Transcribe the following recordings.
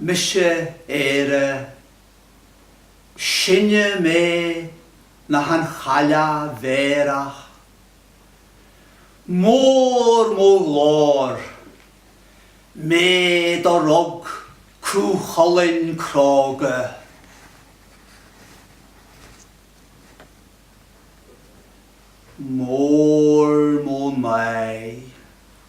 Mise Éire, Sine mé ná an Chailleach Bhéarach, Mór mo ghlóir, Mé do rug Cú Chulainn cróga, Mór mo náir,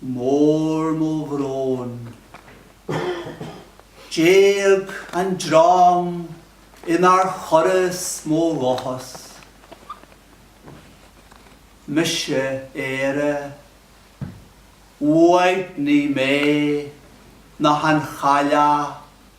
mór mo bhrón. D'éag an dream inar chuireas mo dhóchas. Mise Éire, uaigní mé ná an Chailleach.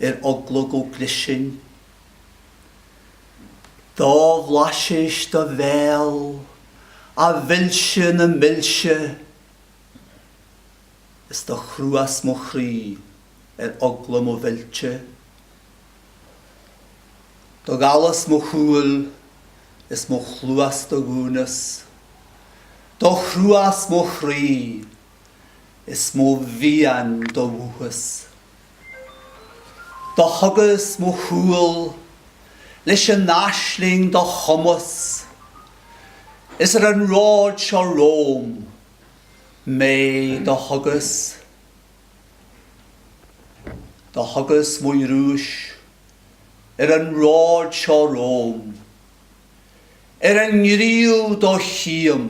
ar eagla go gclisfinn. Do bhlaiseas do bhéal, a mhilse na milse, is do chruas mo chroí ar eagla mo mhillte. Do dhallas mo shúil is mo chluas do dhúnas, do chruas mo chroí is mo mhian do mhúchas. Do thugas mo chúl leis an aisling do chumas is ar an ród seo romham m'aghaidh do thugas. Do thugas mo ghnúis ar an ród seo romham ar an ngníomh do chím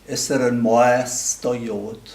is ar an mbás do gheobhad.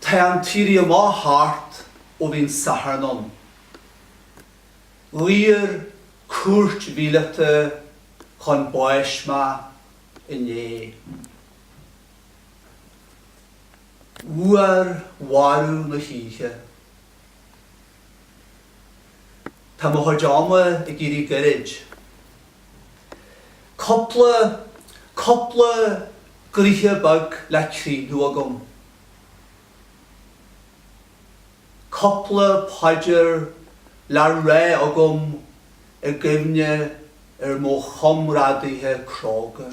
Tá an tÉirí Amach thart ó bhí an Satharn ann. Dhaor cúirt mhíleata chun báis mé inné. Uair mharbh na hoíche. Tá mo chuid ama ag éirí goirid. Cupla, cupla gnoithe beag le críochnú agam. Cupla paidir le rá agam i gcuimhne ar mo chomrádaithe cróga.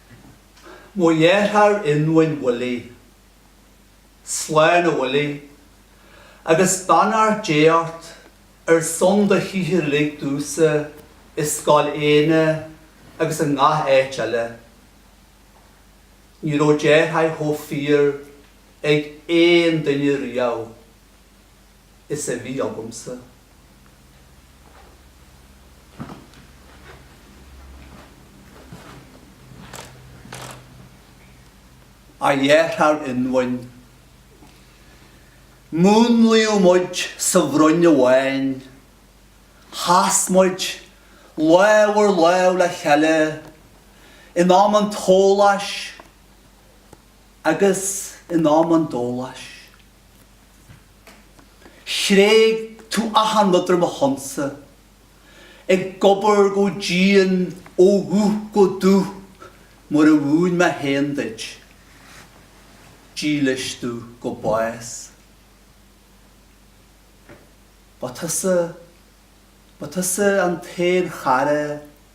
Mo dheartháir ionmhain Willie. Slán a Willie, agus beannacht Dé ort ar son do shaothair uilig domhsa i Scoil Éanna agus i ngach áit eile. Ní raibh deartháir chomh fíor ag aon duine riamh. is a bhí agamsa. A dhearthár ionmhuin. Múnlaíodh muid sa bhroinn amháin. Chas muid lámh ar lámh le chéile in am an tsóláis agus in am an dóláis. Thréig tú achan rud ar mo shonsa. Ag obair go dian ó dhubh go dubh mar a mhúin mé féin duit. Dílis tú go bás. Ba tusa, ba tusa an t-aon chara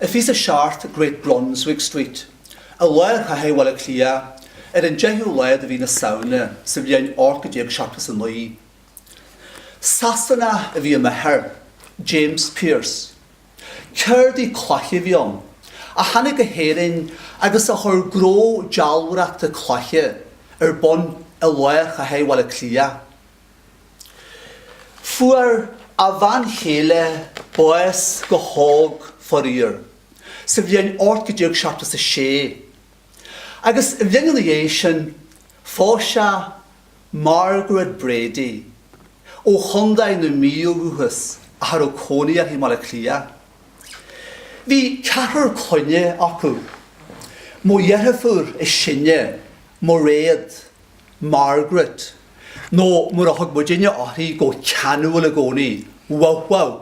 i bhfiche a seacht Great Brunswick Street, i lár chathair Bhaile Átha Cliath, ar an 10ú lá de mhí na Samhna sa bhliain 1879. Sasanach a bhí i m'athair, James Pearse. Ceardaí cloiche a bhí ann, a tháinig go hÉirinn agus a chuir gnó dealbhóireachta cloiche ar bun i lár chathair Bhaile Átha Cliath. Fuair a bhean chéile bás go hóg, faraor, sa bhliain 1876, agus an bhliain ina dhiaidh sin phós sé Margaret Brady ó Chontae na Mí ó dhúchas ach a raibh cónaí uirthi i mBaile Átha Cliath. Bhí ceathrar clainne acu, mo dheirfiúr is sine, Mairéad, Margaret, nó mar a thug muidinne uirthi go ceanúil i gcónaí. Wow wow.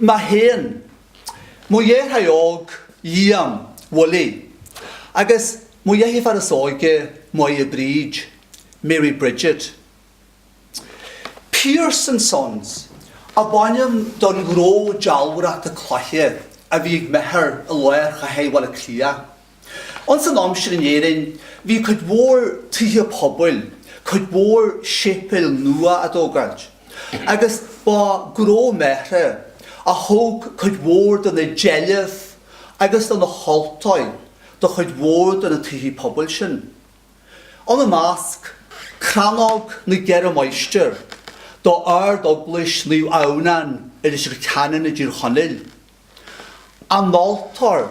Mé féin, mo dheartháir óg Liam, Willie, agus mo dheirfiúr is óige Máire Bríd, Mary Bridget, Pearse and Sons, ab ainm don ghnó dealbhóireachta cloiche a bhí ag m'athair i lár Chathair Bhaile Átha Cliath. Ins an am sin in Éirinn bhí cuid mhór tithe pobail, cuid mhór séipéil nua á dtógáilt agus ba gnó m'athara a thóg cuid mhór de na deilbh agus de na haltóirí do chuid mhór de na tithe pobail sin. Ina measc, crannóg na gCeithre Máistrí do Ard-Eaglais Naomh Adhamhnán i Leitir Ceanainn i dTír Chonaill, an altóir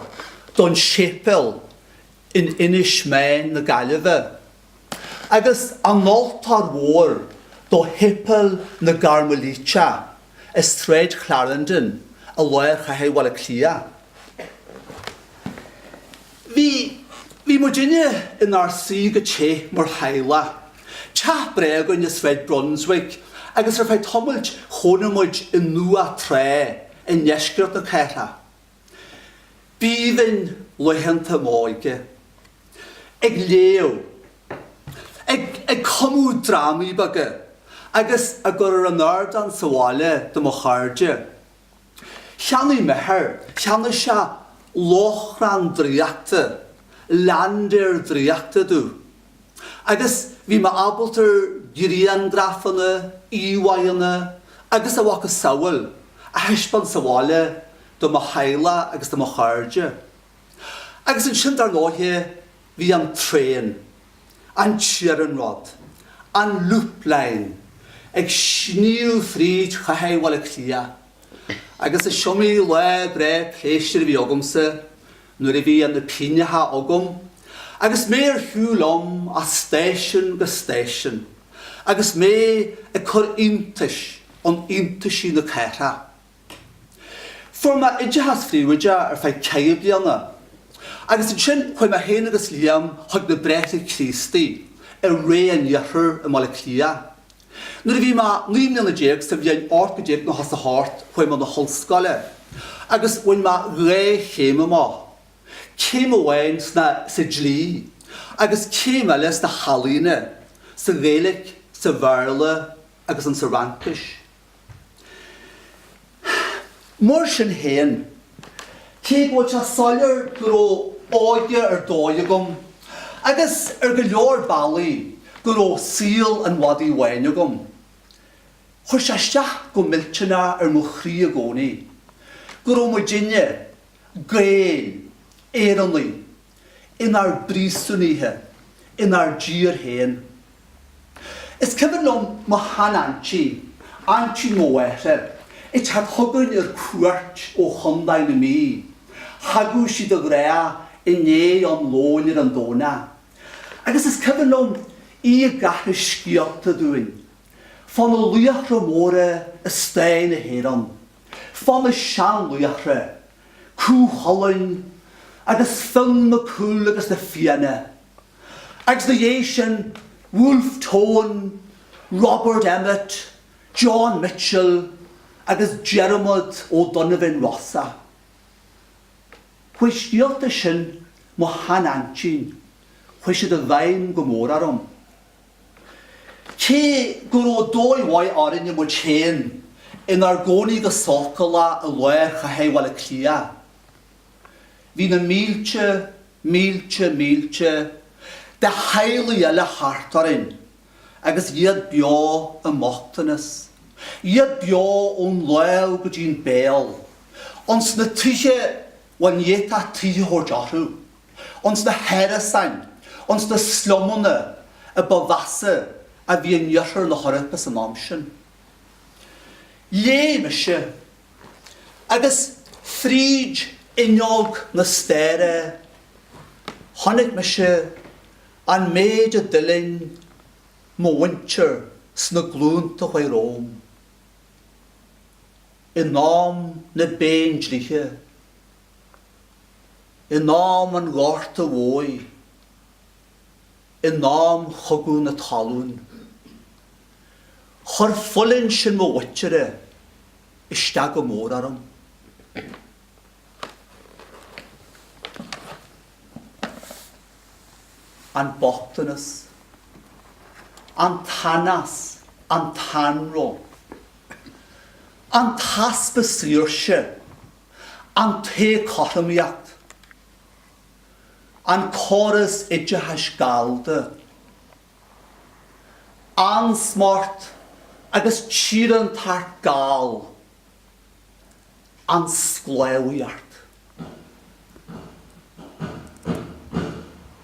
don séipéal in Inis Meáin na Gaillimhe, agus an altóir mhór do Shéipéal na gCairmilíteach i Sráid Clarendon i lár Chathair Bhaile Átha Cliath. Bhí, bhí muidinne inár suí go te mar theaghlach. Teach breá againn i Sráid Brunswick agus ar feadh tamailt chónaigh muid i nDumhach Trá i ndeisceart na cathrach. B'aoibhinn laethanta m'óige. Ag léamh. Ag, ag cumadh drámaí beaga agus á gcur ar an ardán sa bhaile do mo chairde. Cheannaigh m'athair, cheannaigh sé lóchrann draíochta, laindéar draíochta domh. Agus bhí mé ábalta griangrafanna, íomháigheanna agus a mhacasamhail a thaispeáint sa bhaile do mo theaghlach agus do mo chairde. Agus ansin dar ndóighe, Bhí an traen, an t-iarnród, an Loop Line, ag sníomh fríd chathair Bhaile Átha Cliath, agus is iomaí lá breá pléisiúir a bhí agamsa nuair a bhí na pingneacha agam agus mé ar shiúl liom as stáisiún go stáisiún agus mé ag cur iontais in iontaisí na cathrach. Fuair mé oideachas príobháideach ar feadh ceithre bliana, agus ansin chuaigh mé féin agus Liam chuig na Bráithre Críostaí i Rae an Iarthair i mBaile Átha Cliath. Nuair a bhí mé naoi mbliana déag, sa bhliain ocht gcéad déag nócha is a hocht, chuaigh mé na hollscoile, agus bhain mé dhá chéim amach, céim amháin sna, sa dlí, agus céim eile sna healaíona, sa Ghaeilic, sa Bhéarla agus insa Fhraincis. Mar sin féin, cé go bhfuil sé soiléir go raibh óige ar dóigh agam, agus ar go leor bealaí go raibh saol an mhadaidh bháin agam, chuir sé isteach go millteanach ar mo chroí i gcónaí go raibh muidinne, Gaeil, Éireannaigh, inár bpríosúnaithe, inár dtír féin. Is cuimhin liom mo shean-aintí, aintí mo mháthara, ag teacht chugainn ar cuairt ó Chondae na Mí. Thagadh sí de ghnáth i ndiaidh an lóin ar an Domhnach. Agus is cuimhin liom í ag aithris scéalta dúinn, fá na laochra móra i stair na hÉireann, fá na seanlaochra Cú Chulainn agus Fionn Mac Cumhaill agus na Fianna, agus ina dhiaidh sin Wolfe Tone, Robert Emmet, John Mitchel agus Diarmuid Ó Donovan Rossa. Chuaigh scéalta sin mo shean-aintín, chuaigh siad i bhfeidhm go mór orm. Cé go raibh dóigh mhaith orainn muid féin inár gcónaí go sócúlach i lár chathair Bhaile Átha Cliath, bhí na mílte, mílte, mílte de theaghlaigh eile thart orainn agus iad beo i mbochtanas, iad beo ón lámh go dtí'n béal, ionns na tithe dá mb'fhéidir tithe a thabhairt orthu. ins na hárasáin, ins na slumanna a ba mheasa a bhí in Iarthar na hEorpa san am sin. Léigh mise, agus fríd fhuinneog na staire chonaic mise an méid a d'fhuilaing mo mhuintir sna glúnta a chuaigh romham, in am na bPéindlíthe. In am an Ghorta Mhóir, in am Chogadh na Talún, chuir fulaingt sin mo mhuintire isteach go mór orm. An bochtanas, an t-anás, an t-anró, an easpa saoirse, An t-éagothromaíocht, an córas oideachais gallda, ansmacht agus tíorántacht Gall, an sclábhaíocht.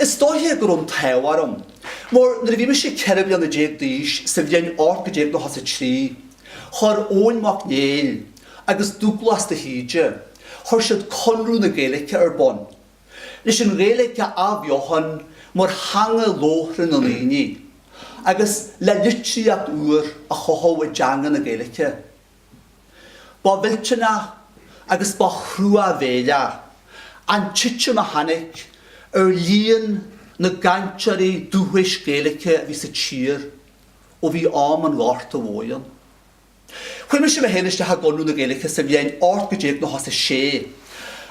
Is dóiche go raibh an t-ádh orm. Mar nuair a bhí mise ceithre bliana déag d'aois sa bhliain ocht gcéad déag nócha is a trí, chuir Eoin Mac Néill agus Dubhghlas de hÍde, chuir siad Conradh na Gaeilge ar bun. Leis an Ghaeilge a athbheochan mar theanga labhartha na ndaoine, agus le litríocht úr a chothú i dteanga na Gaeilge. Ba mhillteanach agus ba thruamhéileach an titim a tháinig ar líon na gcainteoirí dúchais Gaeilice a bhí sa tír ó bhí am an Ghorta Mhóir ann. Chuir mise mé féin isteach i gConradh na Gaeilice sa bhliain 1896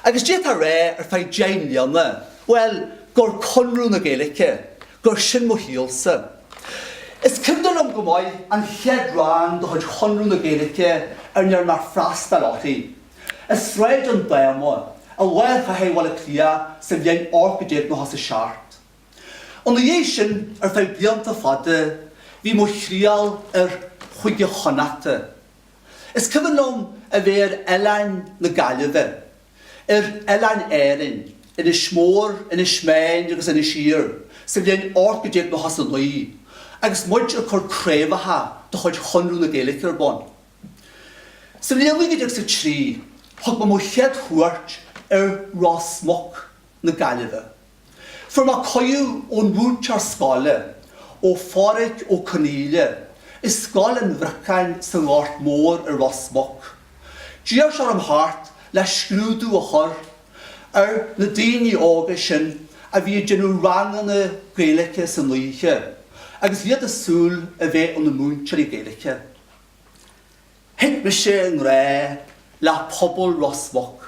agus d'fhéadfá a rá ar feadh deich mbliana, bhuel, gur Conradh na Gaeilice Gur sin mo shaol-sa. Is cuimhne liom go maith an chéad rang de chuid Chonradh na Gaeilge a ndearna mé freastal uirthi. I Sráid an Dáma, i lár Chathair Bhaile Cliath sa bhliain ocht gcéad déag nócha is a seacht. Ina dhiaidh sin, ar feadh blianta fada, bhí mo thriall ar Chúige Chonnachta. Is cuimhin liom a bheith ar oileáin na Gaillimhe. ar oileáin Árann, Inis Mór, Inis Meáin agus Inis Oírr, sa bhliain ocht gcéad déag nócha is a naoi, agus muid ag cur craobhacha de chuid Chonradh na Gaeilge ar bun. Sa bhliain naoi gcéad déag is a trí, thug mé mo chéad chuairt ar Ros Muc na Gaillimhe. Fuair mé cuidiú ón múinteoir scoile, ó Phádhraic Ó Conghaile, i Scoil an Bhriocáin sa nGort Mór i Ros Muc. D'iarr sé orm theacht le scrúdú a chur ar na daoine óga sin a bhí ag déanamh ranganna Gaeilice san oíche agus bhí siad ag súil a bheith ina múinteoirí Gaeilice. Thit mise i ngrá le pobal Ros Muc.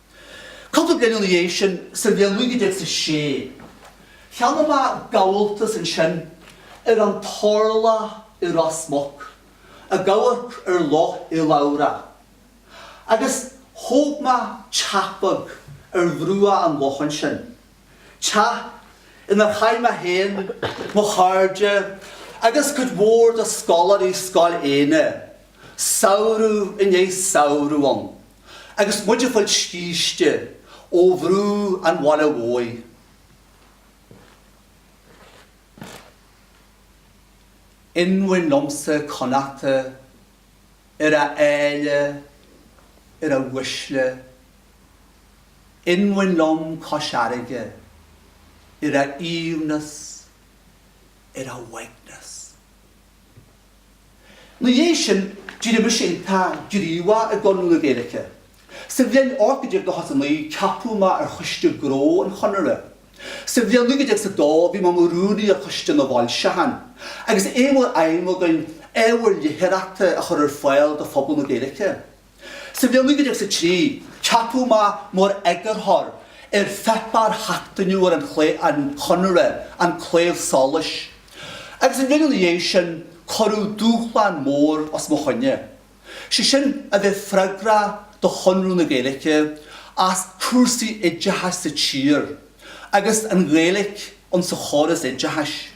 Cúpla bliain ina dhiaidh sin, sa bhliain 1906, cheannaigh mé gabháltas ansin ar an Turlach i Ros Muc, ag amharc ar Loch Eileabhrach, agus thóg mé teach beag ar bhruach an locha ansin, teach inar chaith mé féin, mo chairde agus cuid mhór de scoláirí Scoil Éanna samhradh i ndiaidh samhradh ann. agus muid ag fáil scíste ó bhrú an bhaile mhóir. Inmhain liomsa Connachta ar a áille, ar a uaisle, inmhain liom Cois Fhairrge ar a aoibhneas, ar a uaigneas. 'Na dhiaidh sin d'éirigh mise iontach gníomhach i gConradh na Gaeilge. Sa bhliain 1899 ceapadh mé ar Choiste Gnó an Chonartha. Sa bhliain 1902 bhí mé i mo rúnaí ar Choiste na bhFoilseachán agus é mar aidhm againn ábhar litearthachta a chur ar fáil do phobal na Gaeilge. Sa bhliain 1903 ceapadh mé mar eagarthóir ar pháipéar sheachtainiúil an Chonartha, An Claidheamh Soluis, agus an bhliain ina dhiaidh sin cuireadh dúshlán mór os mo choinne, sé sin a bheith freagrach do Chonradh na Gaeilge as cúrsaí oideachais sa tír agus an Ghaeilge insa chóras oideachais.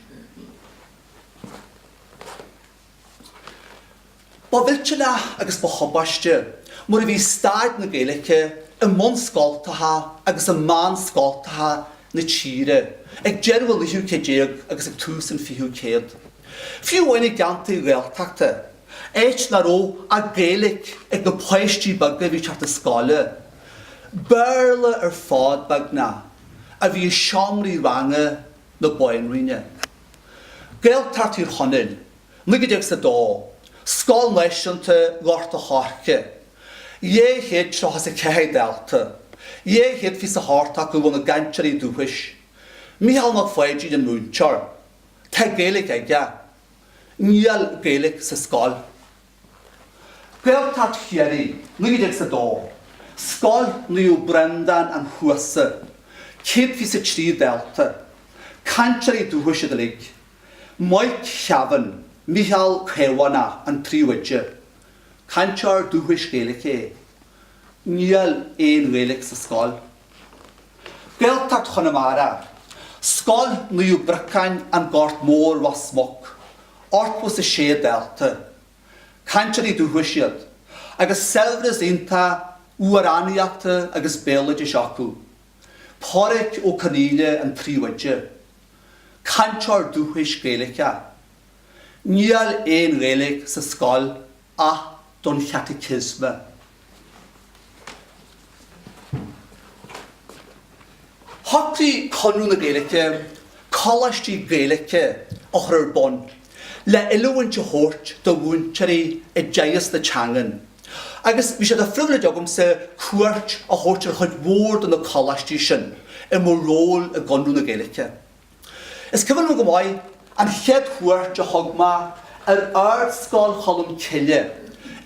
Ba mhillteanach agus ba thubaisteach mar a bhí staid na Gaeilge i mbunscoltacha agus i meánscoltacha na tíre ag deireadh an naoú céad déag agus ag tús an fichiú céad, fiú amháin i gceantair Ghaeltachta, áit nach raibh ach Gaeilge ag na páistí beaga a bhí ag teacht 'na scoile. Béarla ar fad, beagnach, a bhí i seomraí ranga na Bainríona. Gaeltacht Thír Chonaill, 1902, Scoil Náisiúnta Ghort a' Choirce, 234 dalta, 228 acu ina gcainteoirí dúchais, Micheál Mac Pháidín an múinteoir. Tá Gaeilge aige. Níl Gaeilge sa scoil. Gaeltacht Chiarraí, 1902. Scoil Naomh Breandán an Chuasa, 123 dalta. Cainteoirí dúchais iad uilig. Mike Kevane, Micheál Caomhánach, an príomhoide. Cainteoir dúchais Gaeilge. Níl aon Ghaeilge sa scoil. Gaeltacht Chonamara, Scoil Naomh Briocáin, An Gort Mór, Ros Muc, 86 dalta. Cainteoirí dúchais iad, agus saibhreas iontach amhránaíochta agus béaloidis acu. Pádraig Ó Conghaile an príomhoide. Cainteoir dúchais Gaeilge. Níl aon Ghaeilge sa scoil ach don Chaiticiosma. Shocraigh Conradh na Gaeilge coláistí Gaeilge a chur ar bun le oiliúint a thabhairt do mhúinteoirí i dteagasc na teangan agus bhí sé de phribhléid agamsa cuairt a thabhairt ar chuid mhór de na coláistí sin i mo ról i gConradh na Gaeilge. Is cuimhin liom go maith an chéad chuairt a thug mé ar Ardscoil Cholm Cille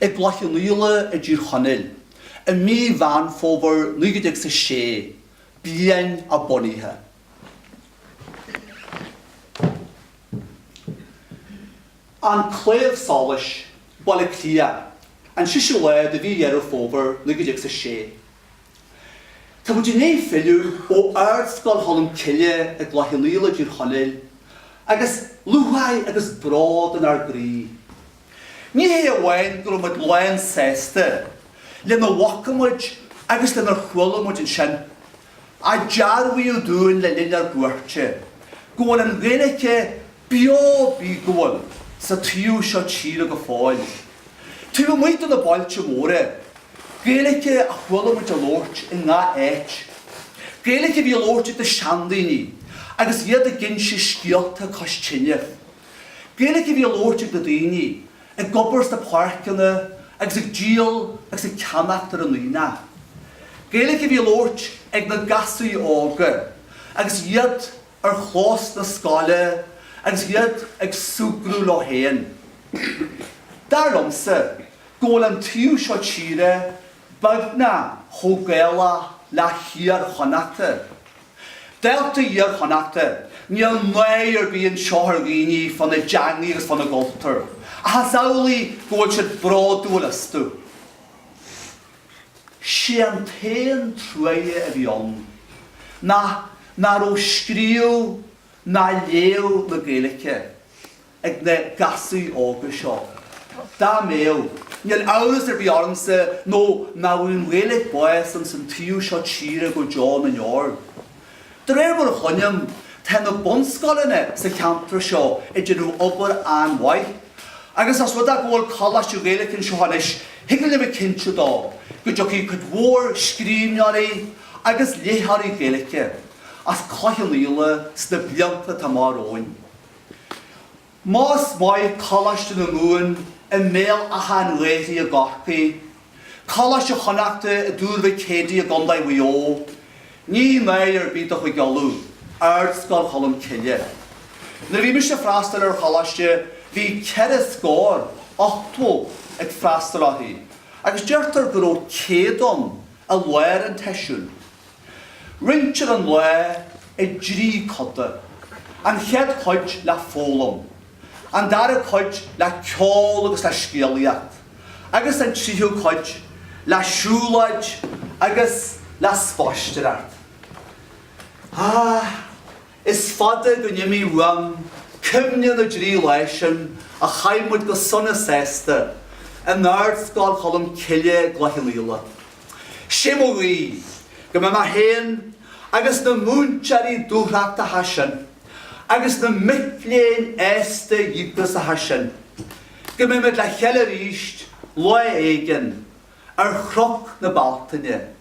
i gCloich Cheann Fhaola i dTír Chonaill i mí Mheán Fómhair 1906, bliain a bunaithe. An Claidheamh Soluis, Baile Átha Cliath, an seisiú lá de mhí Dheireadh Fómhair 1906. Tá muid i ndiaidh filleadh ó Ardscoil Cholm Cille i gCloich Cheann Fhaola i dTír Chonaill agus lúcháir agus bród inár gcroí. Ní hé amháin go raibh muid lán sásta lena bhfaca muid agus lenar chuala muid ansin, ach dearbhaíodh dúinn le linn ár gcuairte go bhfuil an Ghaeilge beo bíogúil sa taobh seo tíre go fóill, taobh amuigh de na bailte móra, Gaeilge a chuala muid á labhairt i ngach áit, Gaeilge a bhí á labhairt ag na seandaoine agus iad ag inse scéalta cois tine, Gaeilge a bhí á labhairt ag na daoine ag obair sna páirceanna agus ag díol agus ag ceannacht ar an aonach, Gaeilge a bhí á labhairt ag na gasraí óga agus iad ar chlós na scoile agus iad ag súgradh leo féin. Dar liomsa go bhfuil an taobh seo tíre beagnach chomh Gaelach le hIar Chonnachta. Dálta Iar Chonnachta, níl náire ar bith anseo ar dhaoine fána dteangaidh agus fána gcultúr, ach is amhlaidh go bhfuil siad bródúil astu. Sé an t-aon truaighe a bhí ann ná nach raibh scríobh ná léamh na Gaeilge ag na gasúir óga seo. Dá mbeadh, níl amhras ar bith ormsa nó nach bhfaigheadh an Ghaeilge bás ins an taobh seo tíre go deo na ndeor. De réir mar a chluinim, tá na bunscoileanna sa cheantar seo ag déanamh obair an-mhaith, agus os rud é go bhfuil Coláiste Gaeilge anseo anois, thig linn a bheith cinnte dó go dtiocfaidh cuid mhór scríbhneoirí agus léitheoirí Gaeilge as Cloich Cheann Fhaola sna blianta atá amach romhainn. Más maith Coláiste na Mumhan i mBéal Átha an Ghaorthaidh i gCorcaigh, Coláiste Chonnachta i dTuar Mhic Éadaigh i gContae Mhaigh Eo, ní náire ar bith do Chúige Uladh Ardscoil Cholm Cille. Nuair a bhí mise ag freastal ar choláiste bhí ceithre scór, ochtó, ag freastal uirthi agus deirtear go raibh céad ann i lár an tseisiúin. Roinntear an lá i dtrí coda, an chéad chuid le foghlaim, an dara cuid le ceol agus le scéalaíocht agus an tríú cuid le siúlóid agus le spaisteoireacht. Is fada go n-imí uaim cuimhne na dtrí lá sin a chaith muid go sona sásta in Ardscoil Cholm Cille i gCloich Cheann Fhaola. 'Sé mo ghuí go mbeidh mé féin agus na múinteoirí dúthrachtacha sin agus na micléinn aosta díograiseacha sin, go mbeidh muid le chéile arís lá éigin ar Chnoc na Bealtaine.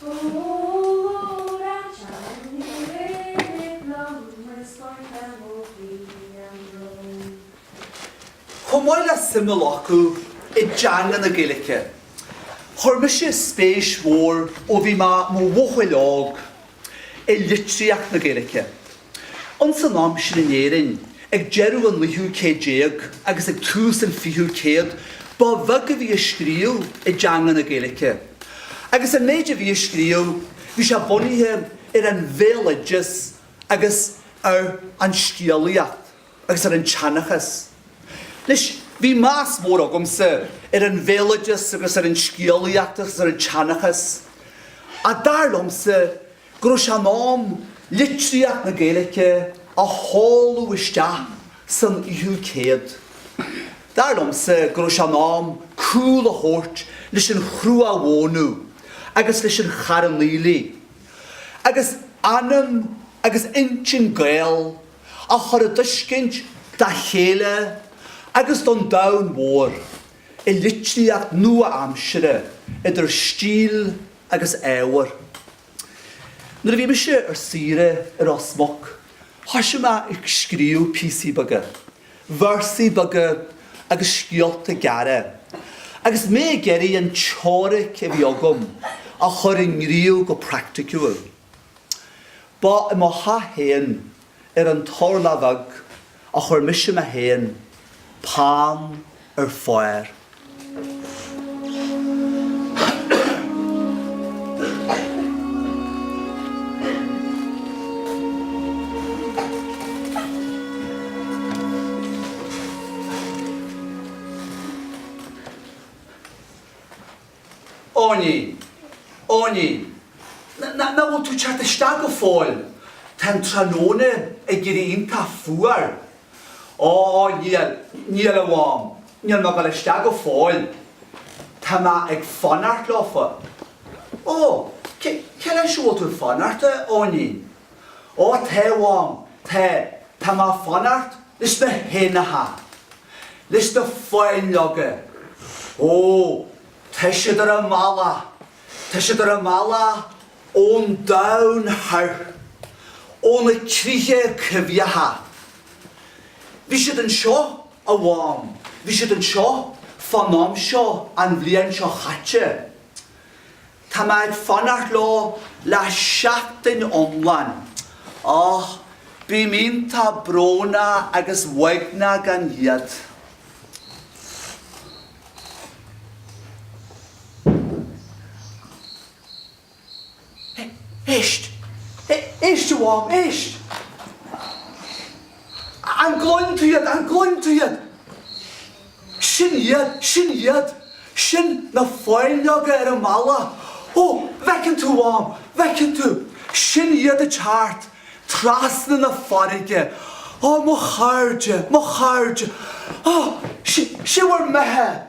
Fómhar an tSean Ní Mhinic liom is scornach mo chroí an brón. Chomh maith le suim a ghlacadh i dteanga na Gaeilge, chuir mise spéis mhór ó bhí mé mo bhuachaill óg i litríocht na Gaeilge. Ins an am sin in Éirinn, ag deireadh an naoú céad déag agus ag tús an fichiú céad, ba bheag a bhí á scríobh i dteanga na Gaeilice, agus an méid a bhí á scríobh, bhí sé bunaithe ar an bhéaloideas agus ar an scéalaíocht agus ar an tseanchas. Anois, bhí meas mór agamsa ar an bhéaloideas agus ar an scéalaíocht agus ar an tseanchas, ach dar liomsa, go raibh sé in am litríocht na Gaeilge a sháthadh isteach san fhichiú céad. Dar liomsa go raibh sé in am cúl a thabhairt leis an chruach mhónadh agus leis an charn aoiligh, agus anam agus intinn Gael a chur i dtuiscint dá chéile agus don domhan mhór i litríocht nua-aimsire idir stíl, agus ábhar. Nuair a bhí mise ar saoire i Ros Muc thoisigh mé ag scríobh píosaí beaga, véarsaí beaga agus scéalta gearra agus mé ag iarraidh an teoiric a bhí agam a chur i ngníomh go praiticiúil. Ba i mo theach féin ar an Turlach Bheag a chuir mise mé féin peann ar pháir. Eoinín, Eoinín, nach bhfuil tú ag teacht isteach go fóill? Tá an tráthnóna ag éirí iontach fuar. Ó, ó, níl, níl a Mhám, níl mé ag dul isteach go fóill. Tá mé ag fanacht leofa. Ó, cé, cé leis a bhfuil tú ag fanacht, a Eoinín? Ó tá, a Mhám, tá, tá mé a' fanacht leis na héanacha, leis na fáinleoga. Ó, tá siad ar a mbealach, tá siad ar a mbealach ón domhan thoir, ó na críocha coimhthíocha. Bhí siad anseo, a Mhám, bhí siad anseo fán am seo an bhliain seo chaite. Tá mé ag fanacht leo le seachtain iomlán. Och, bím iontach brónach agus uaigneach gan iad. Éist! Éist, a Mhám, éist! An gcluin tú iad? An gcluin tú iad? Sin iad, sin iad. Sin na fáinleoga ar a mbealach. Ó, bhfeiceann tú, Mham, bhfeiceann tú. Sin iad ag teacht, trasna na farraige. Ó, mo chairde, mo chairde. Ó, sé, sé bhur mbeatha.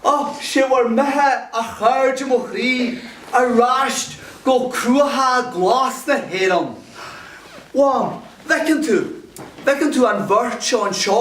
Ó, sé bhur mbeatha, a chairde mo chroí, aráist go cruacha glasa na hÉireann. Mham, bhfeiceann tú, bhfeiceann tú an bheirt seo anseo.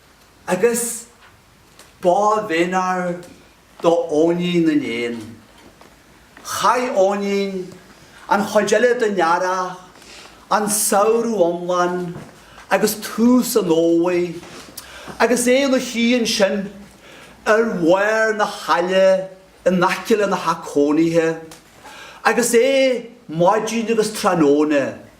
agus ba mhéanar do Eoinín na nÉan. Chaith Eoinín an chuid eile den Earrach, an Samhradh iomlán agus tús an Fhómhair agus é in a shuí ansin ar bharr na haille in aice lena theach cónaithe agus é maidin agus tráthnóna.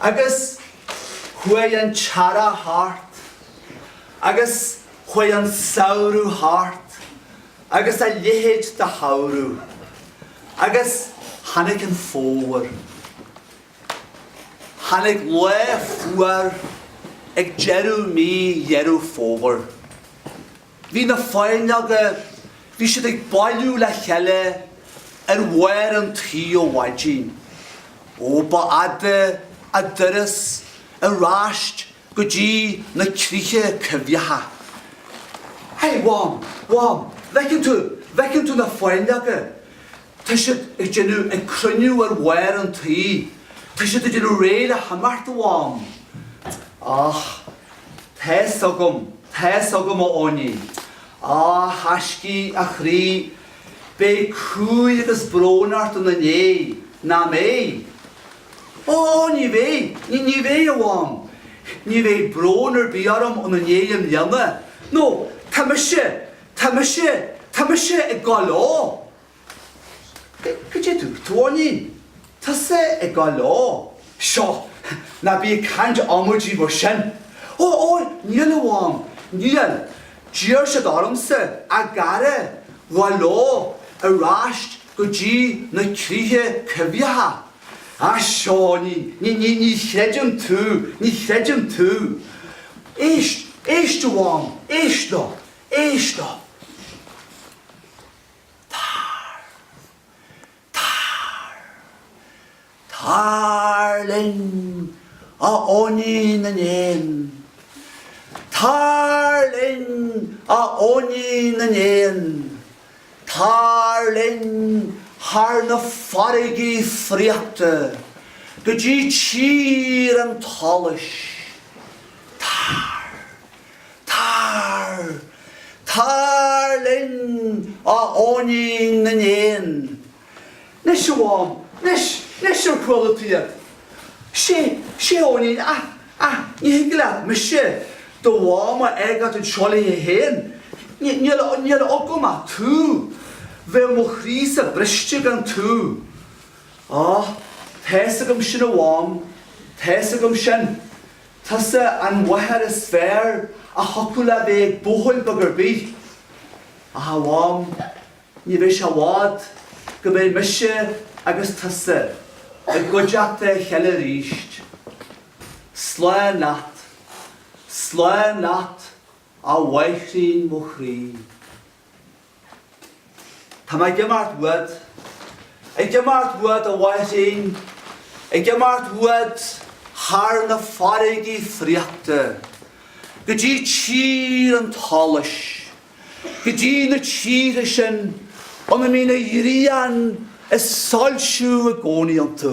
Agus chuaidh an t-earrach thart agus chuaidh an samhradh thart agus a leithéid de shamhradh agus tháinig an fómhar. Tháinig lá fuar ag deireadh mí Dheireadh Fómhair. Bhí na fáinleoga, bhí siad ag bailiú le chéile ar bharr an tí ó mhaidin. Ó ba fhada a dturas ar ais go dtí na críocha coimhthíocha. Hey, Mham, Mham, bhfeiceann tú, bhfeiceann tú na fáinleoga? Tá siad ag déanamh, ag cruinniú ar bharr an tí, tá siad ag déanamh réidh le himeacht, a Mham. Ach tá's agam, tá's agam, a Eoinín, a thaiscidh, a chroí, beidh cumhaidh agus brón ort in a ndéidh, nach mbeidh? Ó, ní bheidh, ní bheidh, a Mham, ní bheidh brón ar bith orm in a ndéidh i mbliana, nó tá mise, Tá mise, tá mise ag gabháil leo. Cad é a dúirt tú, Eoinín? Tusa ag gabháil leo. Seo, ná bí ag caint amaidí mar sin. Ó, ó, níl, a Mham, níl. D'iarr siad ormsa, a gcara, a ghabháil leo ar ais go dtí na críocha coimhthíocha. Á, seo, Eoinín, ní, ní, ní chreidim tú, ní chreidim tú. Éist, éist, a Mham, éist leo. Éist leo! Tar! Tar! Tar linn, a Eoinín na nÉan! Tar linn, a Eoinín na nÉan! Tar linn thar na farraigí fraochta go dtí tír an tsolais. Tar! Tar! Tar linn, a Eoinín na nÉan! Nois, a Mham, nois, nois ar chuala tú iad? Sé, sé Eoinín a, a, ní thig leat mise, do mham a fhágáilt anseo léi féin. Ní, níl, níl agam ach tú. Bheadh mo chroí-sa briste gan tú. Á, tá's agam sin a mham, tá's agam sin. Tusa an mháthair is fearr a thiocfadh le bheith ag buachaill beag ar bith. Ach a Mham, ní bheidh sé i bhfad go mbeidh mise agus tusa i gcuideachta a chéile aríst. Slán leat. Slán leat, a mháithrín mo chroí. Tá mé ag imeacht uait. Ag imeacht uait, a mháithrín, Ag imeacht uait thar na farraigí fraochta, Go dtí tír an tsolais, Go dtí na tíortha sin ina mbíonn an ghrian ag soilsiú i gcónaí iontu.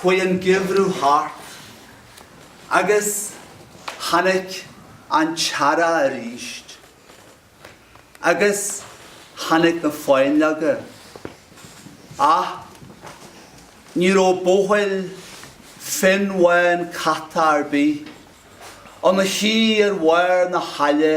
Chuaidh an geimhreadh thart agus tháinic an t-earrach aríst agus tháinic na fáinleoga ach ní raibh buachaill fionnbhán caite ar bith ina shuí ar bharr na haille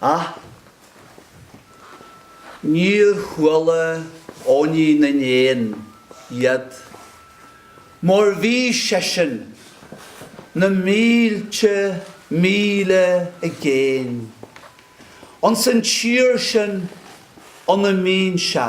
Ach níor chuala Eoinín na nÉan iad. Mar bhí seisean na mílte míle i gcéin. Ins an tír sin ina mbíonn sé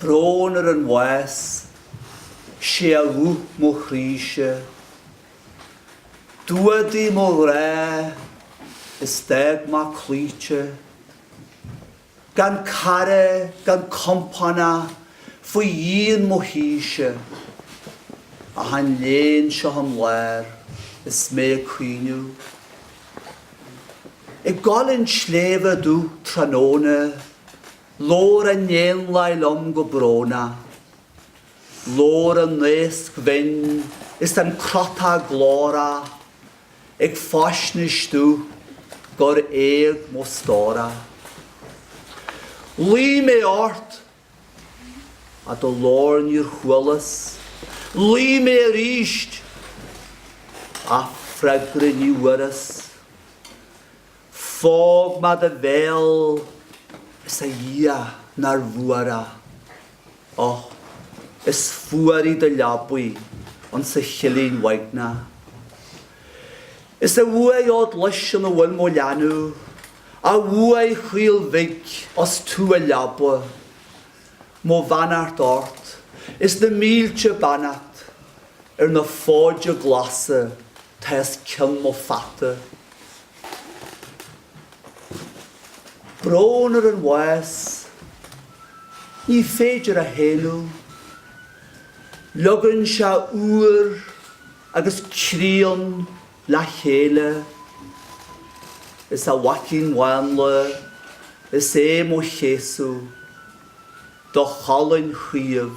Brón ar an bhás, sé a dhubh mo chroí-se. D'fhuadaigh mo ghrá is d'fhág mé cloíte. Gan cara gan compánach faoi dhíon mo thíse Ach an léan seo im lár is mé ag caoineadh Ag gabháil an tsléibhe domh tráthnóna Labhair an éanlaith liom go brónach Labhair an naosc bhinn is an crotach glórach Ag faisnéis domh gur éag mo stórach. Ghlaoigh mé ort, is do ghlór níor chualas, ghlaoigh mé aríst, is freagra ní bhfuaireas. Phóg mé do bhéal is a Dhia nárbh fhuar é. Och, is fuar í do leabaidh ins an chillín uaigneach. Is a uaigh fhódghlas ina bhfuil mo leanbh, a uaigh chaol bhig ós tú a leabaidh. Mo bheannacht ort is na mílte beannacht ar na fóide glasa atá os cionn mo pheata. Brón ar an bhás ní féidir a shéanadh. Leogann sé úr agus críon le chéile. Is a mhaicín mhánla is é mo chéasadh do cholainn chaomh.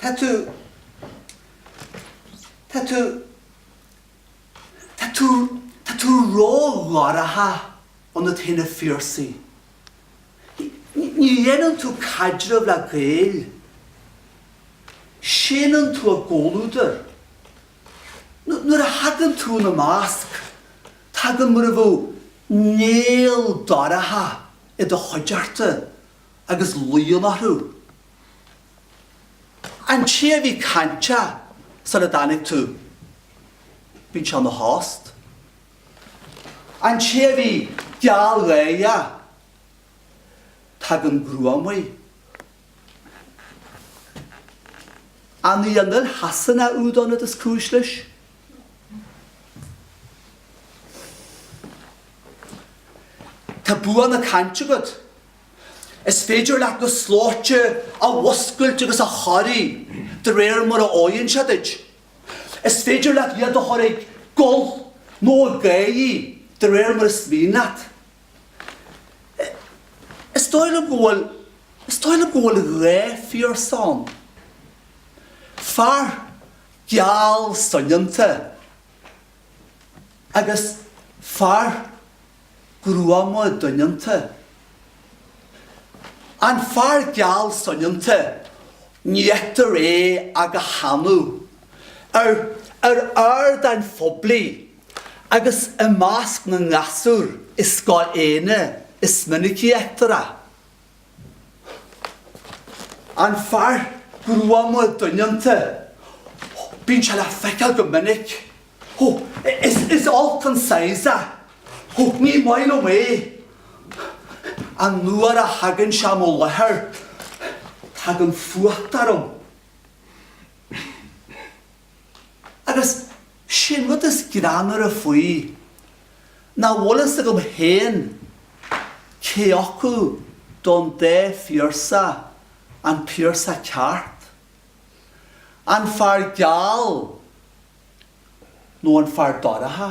Tá tú, tá tú, tá tú, tá tú ró-dhorcha ionat féin, a Phiarsaigh. Ní dhéanann tú caidreamh le Gaeil. Séanann tú a gcomhluadar. Nuair a thagann tú ina measc, tagann mar a bheadh néal dorcha i do chuideachta agus luíonn orthu. An té a bhí cainteach sara dtáinig tú, bíonn sé ina thost. An té a bhí gealgháireach, tagann gruaim air. An í an fhuil Shasanach úd ionat is cúis leis? Tá bua na cainte agat. Is féidir leat na slóite a mhúscailt agus a chorraí de réir mar a fhóireann sé duit. Is féidir leat iad a chur ag gol nó ag gáire de réir mar is mian leat. Is dóigh liom go bhfuil, is dóigh liom go bhfuil dhá Phiarsach ann. Fear geal soineanta agus fear gruama doineanta. An fear geal soineanta ní fheictear é ach go hannamh. Ar ardáin phoiblí agus i measc na ngasúr i Scoil Éanna is minicí a fheictear é. An fear gruama doineanta, bíonn sé le feiceáil go minic. Is olc an saghas é. Ní maith liom é. An uair a thagann sé i mo láthair, tagann fuacht orm. Agus sé'n rud is greannmhaire faoi nach bhfuil fhios agam féin cé acu do'n dá Phiarsach an Piarsach ceart, an fear geal nó an fear dorcha.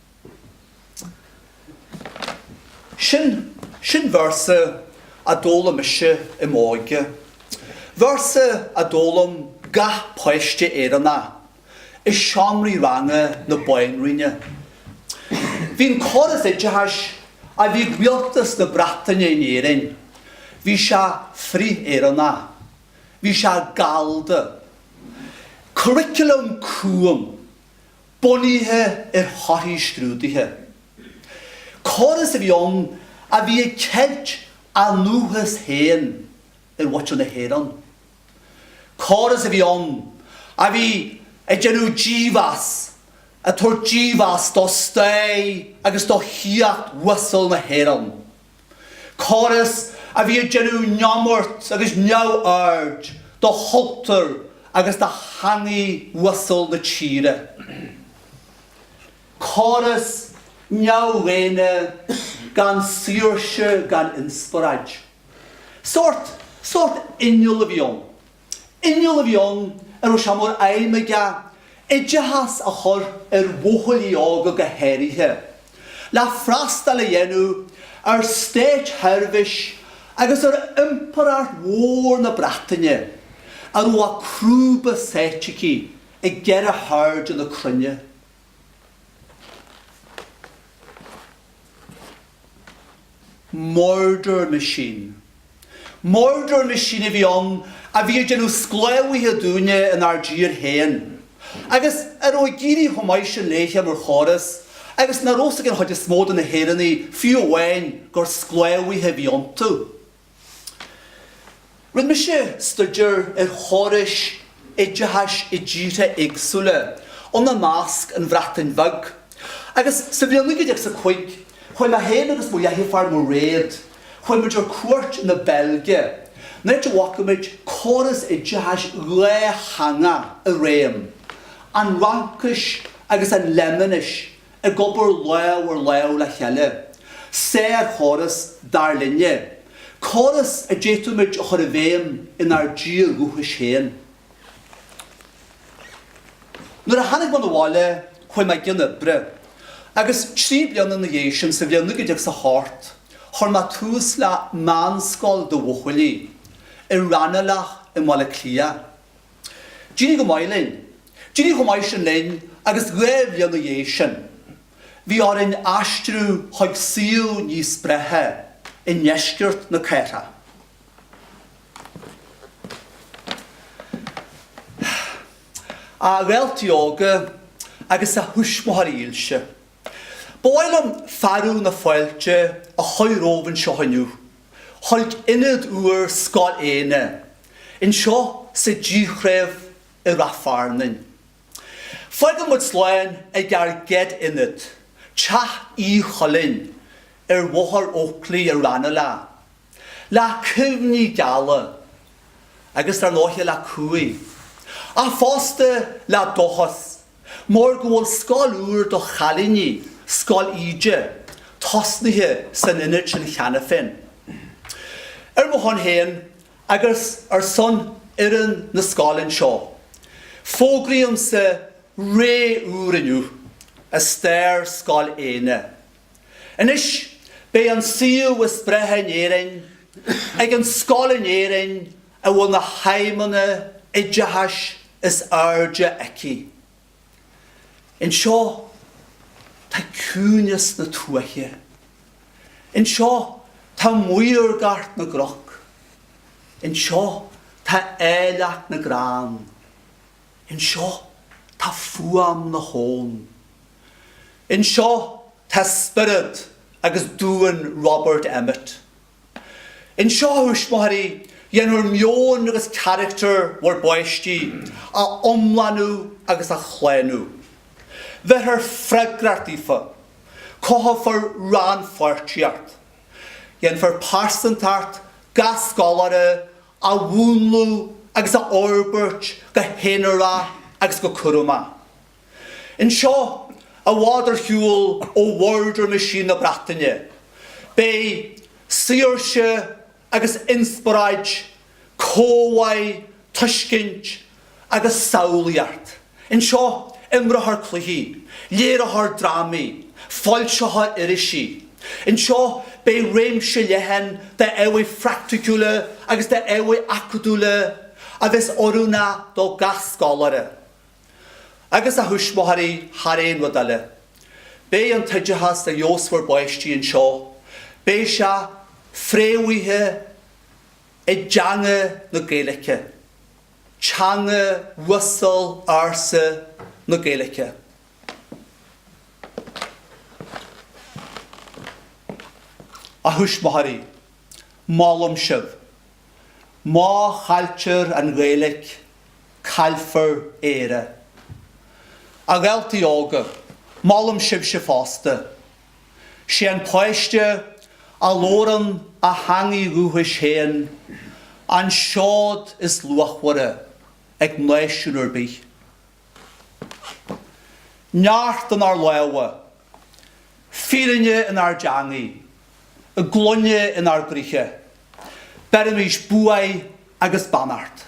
Sin, sin véarsa a d'fhoghlaim mise i m'óige. Véarsa a d'fhoghlaim gach páiste Éireannach i seomraí ranga na Banríona. Bhí an córas oideachais a bhí ag rialtas na Breataine in Éirinn, bhí sé frith-Éireannach, bhí sé gallda. Curriculum cúng. bunaithe ar thorthaí scrúduithe. Córas a bhí ann a bhí ag ceilt a ndúchas féin ar mhaithe na hÉireann. Córas a bhí ann a bhí ag déanamh dímheas, ag tabhairt dímheas do stair agus do shaíocht uasal na hÉireann. Córas a bhí ag déanamh neamart agus neamhaird do chultúr agus do theangaidh uasal na tíre. Córas neamhdhaonna gan saoirse gan inspioráid. Sórt, sórt inneall a bhí ann. Inneall a bhí ann a raibh sé mar aidhm aige oideachas a chur ar bhuachaillí óga go háirithe, le freastal a dhéanamh ar státseirbhís agus ar Impireacht mhór na Breataine a raibh a crúba sáite aici i gceithre hairde na cruinne. Murder machine. Murder machine a bhí ann a bhí ag déanamh sclábhaithe dúinne in ár dtír féin, agus a raibh ag éirí chomh maith sin léithe mar chóras, agus nach raibh a fhios ag an chuid is mó de na hÉireannaigh fiú amháin gur sclábhaithe a bhí iontu. Rinne mise stuidéar ar chórais oideachais i dtíortha éagsúla, ina measc an Bhreatain Bheag, agus sa bhliain 1905 chuaigh mé féin agus mo dheirfiúr Mairéad, chuaigh muid ar cuairt na Beilge, an áit a bhfaca muid córas oideachais dhátheangach i réim, an Fhraincis agus an Fhléimeannais ag obair lámh ar lámh le chéile, sárchóras, dar linne, córas a d'fhéadfadh muid a chur i bhfeidhm inár dtír dhúchais féin. Nuair a tháinig mé na bhaile chuaigh mé i gcionn oibre, agus trí bliana ina dhiaidh sin, sa bhliain 1908, chuir mé tús le meánscoil do bhuachaillí, i Raghnallach i mBaile Átha Cliath. D'éirigh go maith linn. D'éirigh chomh maith sin linn agus dhá bhliain 'na dhiaidh sin bhí orainn aistriú chuig suíomh níos breátha i ndeisceart na cathrach. A dhaltaí óga agus a thuismitheoirí dhílse. Ba mhaith liom fearadh na fáilte a chuir romhaibh anseo inniu chuig Ionad úr Scoil Éinne anseo sa Díthreibh i Rath Fearnain. Fágaimid slán ag ár gcéad Ionad, Teach Uí Choileáin ar Bhóthar Oakley i Ranelagh, le cuimhní geala agus dar ndóiche le cumhaidh, ach fosta le dóchas. Mar go bhfuil scoil úr do chailíní, Scoil Íde, tosnaithe san Ionad sin cheana féin. Ar mo shon féin agus ar son fhoireann na scoile anseo, fógraímse ré úr inniu i stair Scoil Éinne. Anois beidh an suíomh is breithe in Éirinn ag an scoil in Éirinn a bhfuil na haidhmeanna oideachais is airde aici. Anseo tá ciúineas na tuaithe. Anseo tá maorgacht na gcnoc. Anseo tá áilleacht na gcrann. Anseo tá fuaim na habhann. Anseo tá spiorad agus duan Robert Emmet. Anseo, a thuismitheoirí, dhéanfar meon agus caractar bhur bpáistí a iomlánú agus a shlánú. Bhéarfar freagracht daofa. Cothófar rannpháirtíocht. Dhéanfar pearsantacht gach scoláire a mhúnlú agus a fhorbairt go haonarach agus go cúramach. Anseo, i bhfad ar shiúl ó mhurder machine na Breataine, beidh saoirse agus inspioráid, comhbhá, tuiscint agus samhlaíocht. Anseo, imreofar cluichí, léireofar drámaí, foilseofar irisí. Anseo, beidh réimse leathan d'ábhair phraiticiúla agus d'ábhair acadúla a bheas oiriúnach do gach scoláire. Agus a thuismitheoirí thar aon rud eile. Beidh an t-oideachas a gheobhas bhur bpáistí anseo, beidh sé fréamhaithe i dteanga na Gaeilge, teanga uasal ársa na Gaeilge. A thuismitheoirí, molaim sibh. Má chailltear an Ghaeilge, Caillfear Éire. A Ghaeltaí Óga, molaim sibhse fosta. Sé an páiste a labhrann a theangaidh dhúchais féin an seod is luachmhaire ag náisiún ar bith. Neart inár lámha, fírinne inár dteangaidh, glaine inár gcroíthe. Beirimís buaidh agus beannacht.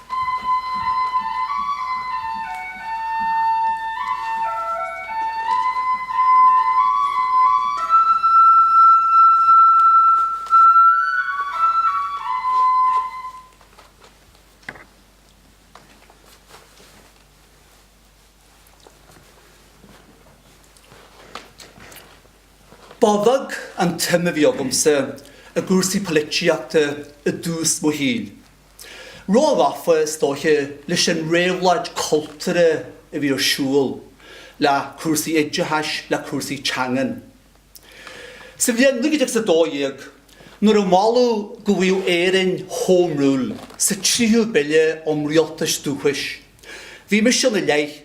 Ba bheag an tsuim a bhí agamsa i gcúrsaí poilitíochta i dtús mo shaoil. Ró-ghafa, is dóiche, leis an réabhlóid chultúrtha a bhí ar siúl, le cúrsaí oideachais, le cúrsaí teangan. Sa bhliain naoi gcéad agus a dó dhéag, nuair a moladh go bhfaigheadh Éirinn Home Rule sa tríthú Bille um Rialtais Dúchais, bhí mise ina leith,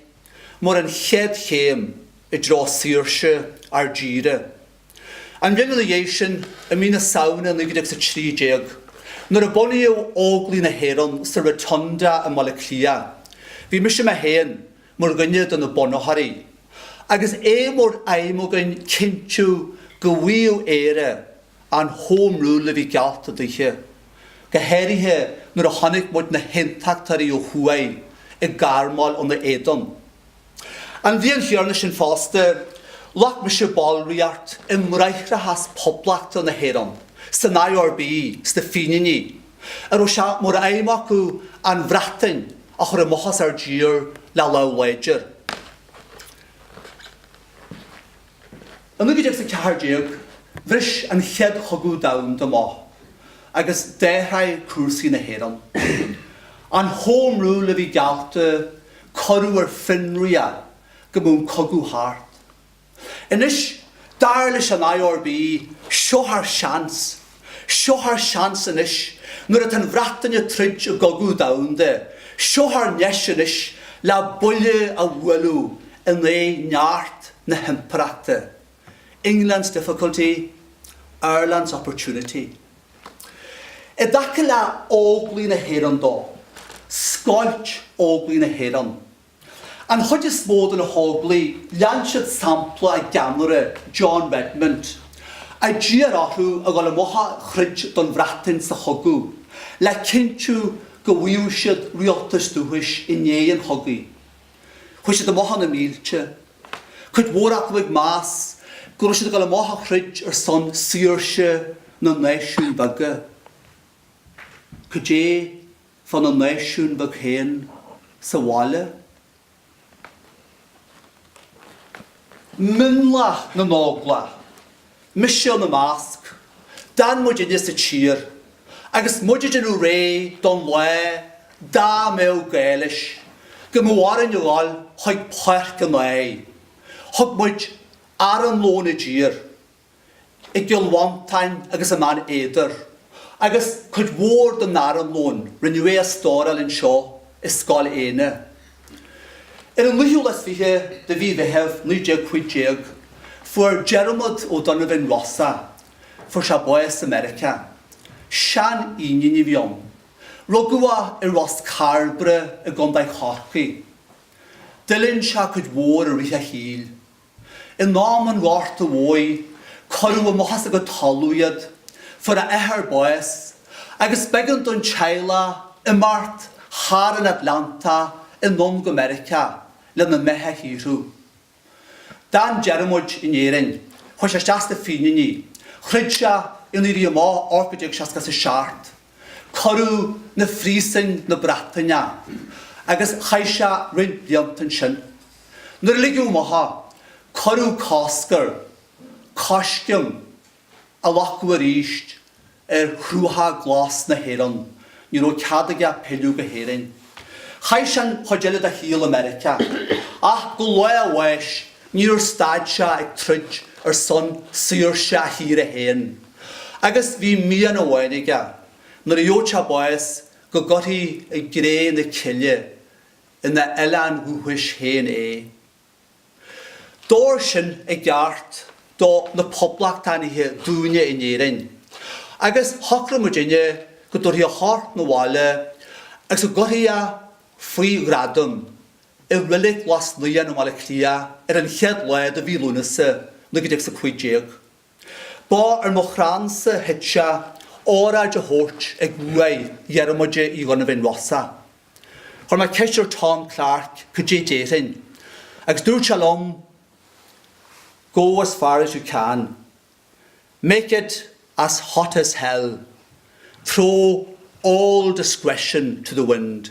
mar an chéad chéim i dtreo saoirse ár dtíre. An bhliain ina dhiaidh sin, i mí na Samhna 1913, nuair a bunaíodh Óglaigh na hÉireann sa Rotunda i mBaile Átha Cliath, bhí mise mé féin mar dhuine de na bunaitheoirí, agus é mar aidhm againn cinntiú go bhfaigheadh Éire an Home Rule a bhí geallta daoithe, go háirithe nuair a chonaic muid na hAontachtóirí ó thuaidh ag armáil ina éadan. An bhliain chéanna sin fosta, ghlac mise ballraíocht i mBráithreachas Phoblacht na hÉireann, san IRB, sna Fíníní, a raibh sé mar aidhm acu an Bhreatain a chur amach as ár dtír le lámh láidir. I 1914 bhris an Chéad Chogadh Domhanda amach agus d'athraigh cúrsaí na hÉireann. An Home Rule a bhí geallta, cuireadh ar fionraí é go mbeadh an cogadh thart. Anois, dar leis an IRB, seo ár seans! Seo ár seans anois, nuair atá an Bhreatain ag troid i gcogadh domhanda, seo ár ndeis anois le buille a bhualadh in aghaidh neart na hImpireachta. England's difficulty, Ireland's opportunity. I dtaca le Óglaigh na hÉireann de, scoilt Óglaigh na hÉireann, An chuid is mó de na hÓglaigh lean siad sampla a gceannaire, John Redmond, a d'iarr orthu a dhul amuigh a throid don Bhreatain sa chogadh le cinntiú go bhfaigheadh siad Rialtas Dúchais i ndiaidh an chogaidh. Chuaigh siad amuigh ina mílte, cuid mhór acu ag meas go raibh siad ag dul amuigh a throid ar son saoirse na náisiún beaga. Cad é fán náisiún bheag féin sa bhaile. Mionlach na nÓglach, mise ina measc, d'fhan muidinne sa tír agus muid ag déanamh réidh don lá dá mbeadh glaoch géar orainn a dhul chuig páirc an áir. Thug muid armlón i dtír. i gCill Mhantáin agus i mBeann Éadair, agus cuid mhór den armlón, rinneadh é a stóráil anseo i Scoil Éanna. Ar an naoú lá is fiche de mhí Mheithimh 1915, fuair Diarmuid O'Donovan Rossa, fuair sé bás i Meiriceá. Sean-Fhínín a bhí ann. Rugadh é i Ros Cairbre i gContae Chorcaí. D'fhulaing sé cuid mhór i rith a shaoil. In am an Ghorta Mhóir cuireadh amach as a gcuid talamh iad, fuair a athair bás agus b'eigean don teaghlach imeacht thar an Atlantach anonn go Meiriceá lena mbeatha a shaothrú. D'fhan Diarmuid in Éirinn, chuaigh sé isteach sna Fíníní, throid sé in Éirí Amach 1867, Cuireadh 'na phríosúin 'na Breataine é agus chaith sé roinnt blianta ansin. Nuair a ligeadh amuigh é, cuireadh cosc air coisceim a ghlacadh arís ar chrutha glasa na hÉireann, ní raibh cead aige pilleadh go hÉirinn. Chaith sé an chuid eile dá shaol i Meiriceá, ach go lá a bháis níor stad sé ag troid ar son saoirse a thíre féin, agus bhí mian amháin aige, nuair a gheobhadh sé bás, go gcuirfí i gcré na cille é ina oileán dhúchais féin é. D'fhóir sin i gceart do na Poblachtánaithe dúinne in Éirinn, agus shocraigh muidinne go dtabharfaí a chorp 'na bhaile agus go gcuirfí é, faoi ghradam, i Reilig Ghlas Naíon i mBaile Átha Cliath ar an chéad lá de mhí Lúnasa, 1915. Ba ar mo chrannsa a thit sé, óráid a thabhairt ag uaigh Dhiarmada Uí Dhonnabháin Rossa. Chuir mé ceist ar Tom Clarke cad é déarfainn, agus dúirt sé liom Go as far as you can. Make it as hot as hell. Throw all discretion to the wind.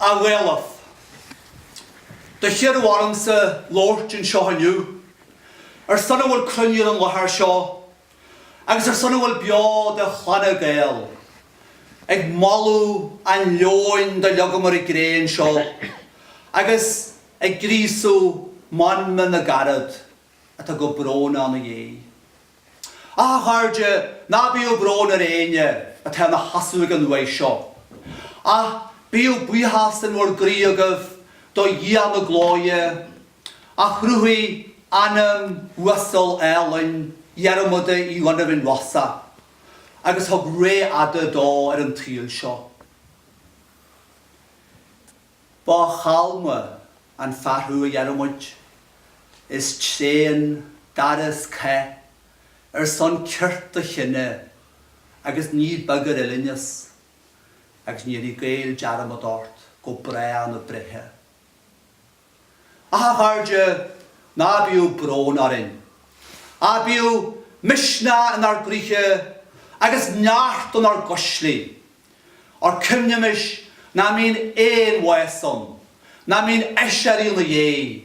A Ghaelaibh. Do hiarradh ormsa labhairt anseo inniu ar son a bhfuil cruinnithe ar an láthair seo agus ar son a bhfuil beo de Chlanna Gael. Ag moladh an leoin do leogamar i gcré anseo agus ag gríosadh meanman na gcarad. atá go brónach ina dhéidh. Ach a chairde, ná bíodh brón ar éinne atá ina sheasamh ag an uaigh seo, ach bíodh buíochas in bhur gcroí agaibh do Dhia na Glóire, a chruthaigh anam uasal álainn Dhiarmada Uí Dhonnabháin Rosa, agus thug ré fhada dó ar an tsaol seo. Ba chalma an fear thú a Dhiarmuid. Is tréan d'fhearais cath ar son cirt do chine agus ní beag ar fhuilingis, agus ní dhéanfaidh Gaeil dearmad ort go bráth na breithe. Ach, a chairde, ná bíodh brón orainn. Ach bíodh misneach inár gcroíthe agus neart inár gcuislí. Óir cuimhnímis nach mbíonn aon bhás ann, nach mbíonn aiséirí ina dhéidh,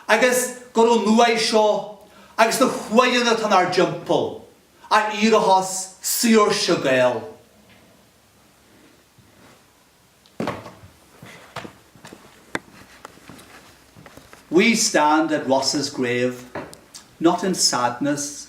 agus gur ón uaigh seo agus na huaigheanna atá 'nár dtimpeall a éireochas saoirse Gael. We stand at Rossa's grave, not in sadness.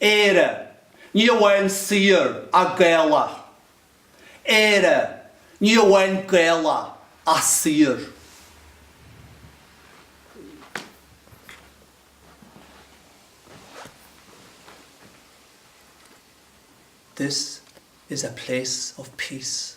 Éire, ní amháin saor ach Gaelach. Éire, ní amháin Gaelach ach saor. This is a place of peace.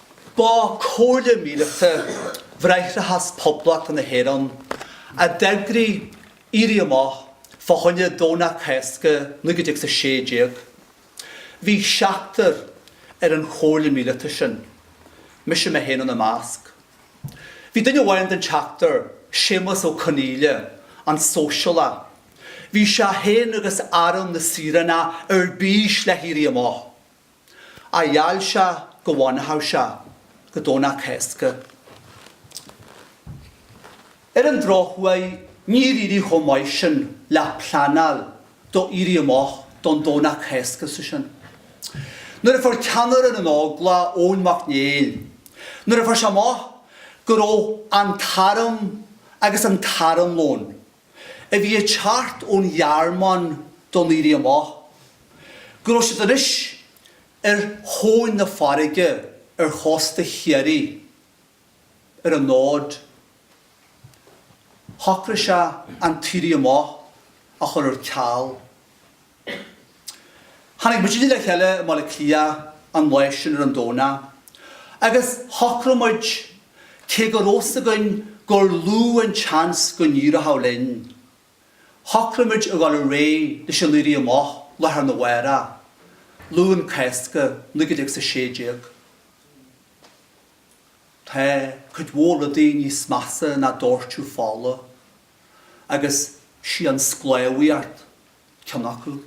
Ba comhairle míleata Bhráithreachas Poblachta na hÉireann a d'eagraigh Éirí Amach fá choinne Domhnach Cásca 1916. Bhí seachtar ar an chomhairle míleata sin, mise mé féin ina measc. Bhí duine amháin den tseachtar, Séamas Ó Conghaile, an sóisialach, bhí sé féin agus Arm na Saoránach ar bís le hÉirí Amach. Ach gheall sé go bhfanfadh sé go Domhnach Cásca. Ar an drochuair níor éirigh chomh maith sin le pleanáil do Éirí Amach don Domhnach Cásca sa sin. Nuair a fuair ceannaire na nÓglach, Eoin Mac Néill, nuair a fuair sé amach go raibh an t-arm agus an t-armlón, a bhí ag teacht ón Ghearmáin don Éirí Amach, go raibh siad anois ar thóin na farraige ar chósta Chiarraí, ar an Aud. Shocraigh sé an tÉirí Amach a chur ar ceal. Tháinig muid le cheile i mBaile Átha Cliath an lá sin ar an Domhnach agus shocraigh muid, cé go raibh 's againn gur lú an seans go n-éireochadh linn, shocraigh muid a dhul réidh leis an Éirí Amach lá thar na bhárach, Luan Cásca, naoi gcéad agus a sé déag. Tá cuid mhór rudaí níos measa ná dóirteadh fola agus is í an sclábhaíocht. ceann acu.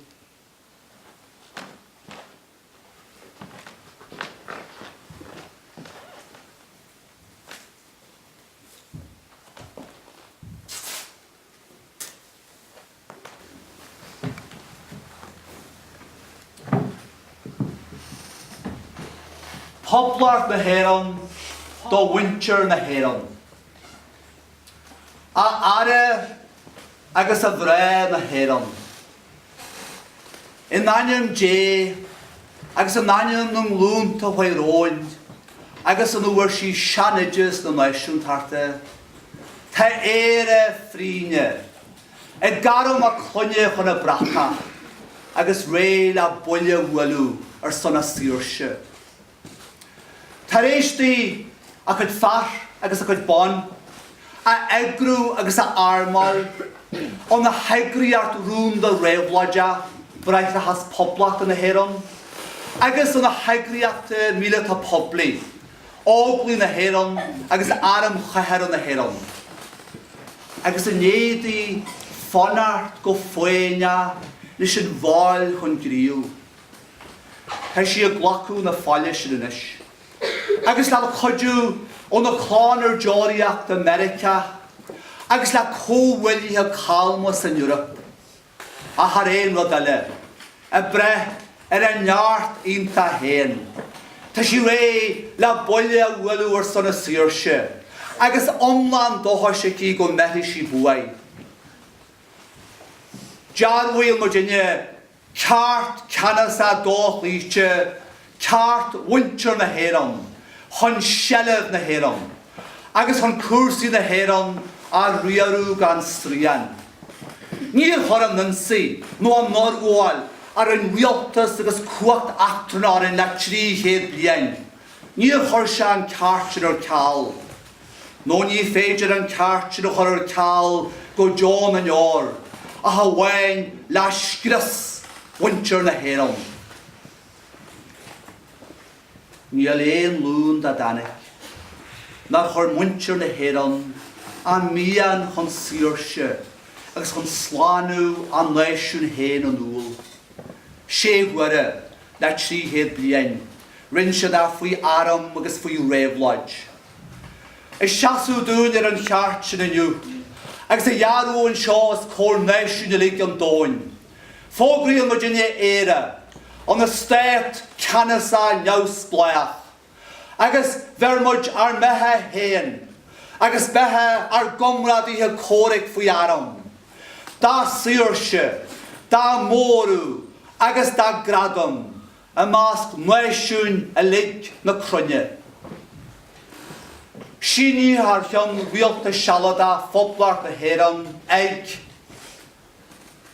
Poblacht na hÉireann do mhuintir na hÉireann. A fheara agus a mhná na hÉireann. In ainm Dé agus in ainm na nglúnta a chuaigh romhainn agus óna bhfuair sí seanoideas na náisiúntachta, tá Éire trínne, ag gairm a clainne chun a brataí agus réidh le buille a bhualadh ar son a saoirse. Tar éis di a cuid fear agus a cuid ban a eagrú agus a armáil óna heagraíocht rúnda réabhlóideach Bráithreachas Phoblacht na hÉireann agus óna heagraíochtaí míleata poiblí, Óglaigh na hÉireann agus Arm Cathartha na hÉireann, agus i ndiaidh di fanacht go foighneach leis an bhfaill chun gnímh, Tá sí ag glacadh na faille sin anois, agus le cuidiú óna clann ar deoraíocht i Meiriceá, agus le comhghuaillithe calma san Eoraip. Ach thar aon rud eile, ag braith ar a neart iontach féin, tá sí réidh le buille a bhualadh ar son a saoirse, agus iomlán dóchais aici go mbeirfidh sí buaidh. Dearbhaíonn muid inniu, Ceart ceannasach dochloíte, ceart mhuintir na hÉireann chun seilbh na hÉireann agus chun cúrsaí na hÉireann a riaradh gan srian. Níor chuir an ionsaí nó an fhorghabháil a rinne rialtas agus cumhacht eachtranach orainn le trí chéad bliain, níor chuir sé an ceart sin ar ceal. nó ní féidir an ceart sin a chur ar ceal go deo na ndeor, ach amháin le scrios mhuintir na hÉireann. Níl aon ghlúin dá dtáinic nár chuir muintir na hÉireann a mian chun saoirse agus chun slánú a náisiúin féin in iúl. Sé huaire le trí chéad bliain. Rinn siad é faoi arm agus faoi réabhlóid. Ag seasamh dúinn ar an cheart sin inniu, agus á dhearbhú anseo os comhair náisiúin uilig an domhain, fógraíonn muidinne Éire, ina stát ceannasach neamhspleách. agus bheir muid ár mbeatha féin agus beatha ár gcomrádaithe comhraic faoi arm, dá saoirse, dá móradh agus dá gradam i measc náisiúin uilig na cruinne. Sínithe thar cheann Rialtas Sealadach Phoblacht na hÉireann ag.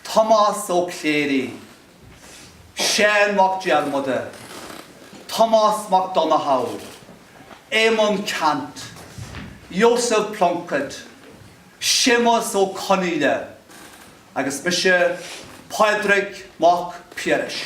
Tomás Ó Cléirigh, Seán Mac Diarmada, Tomás Mac Donnchadha, Éamonn Ceannt, Joseph Plunkett, Séamus Ó Conghaile agus mise Pádraig Mac Piarais.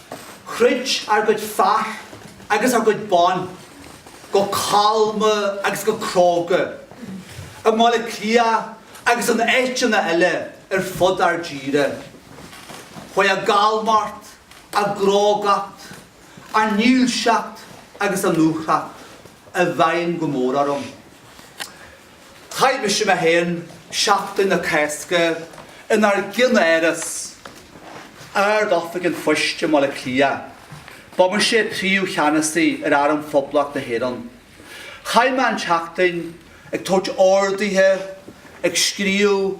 Throid ár gcuid fear agus ár gcuid ban go calma agus go cróga i mBaile Cliath agus in áiteanna eile ar fud ár dtíre. Chuaigh a gcalmacht, a gcrógacht, a ndílseacht agus a ndúthracht i bhfeidhm go mór orm. Chaith mise mé féin seachtain na Cásca inár gceannáras Ard-Oifig an Phoist i mBaile Cliath. Ba mise Príomh-Cheannasaí ar Arm Phoblacht na hÉireann. Chaith mé an tseachtain ag tabhairt orduithe, ag scríobh,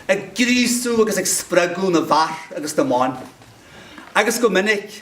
ag gríosú agus ag spreagadh na bhfear agus na mban, agus go minic,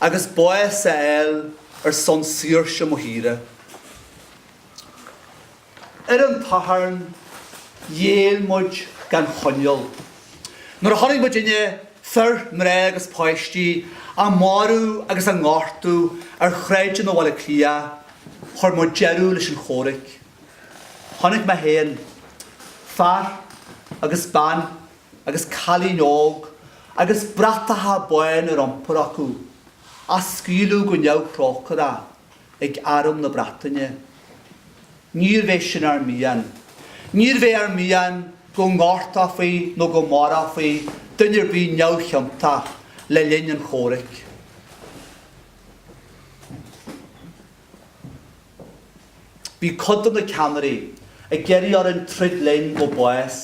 agus bás a fháil ar son saoirse mo thíre. Ar an tSatharn ghéill muid gan choinníoll. Nuair a chonaic muidinne fir, mná agus páistí, á marú agus á ngortú ar shráideanna Bhaile Átha Cliath, chuir muid deireadh leis an chomhraic. Chonaic mé féin, fear agus bean, agus cailín óg agus bratacha bána ar iompar acu á scaoileadh go neamhthrócaireach ag Arm na Breataine. Níorbh é sin ár mian. Níorbh é ár mian go ngortófaí nó go marófaí duine ar bith neamhchiontach le linn an chomhraic. Bhí cuid de na ceannairí ag iarraidh orainn troid linn go bás.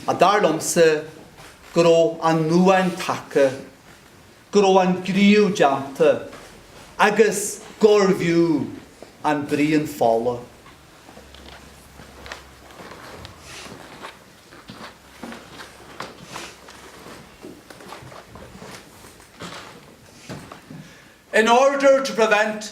Ach dar liomsa go raibh an uain tagtha, go raibh an gníomh déanta agus gurbh fhiú an braon fola. In order to prevent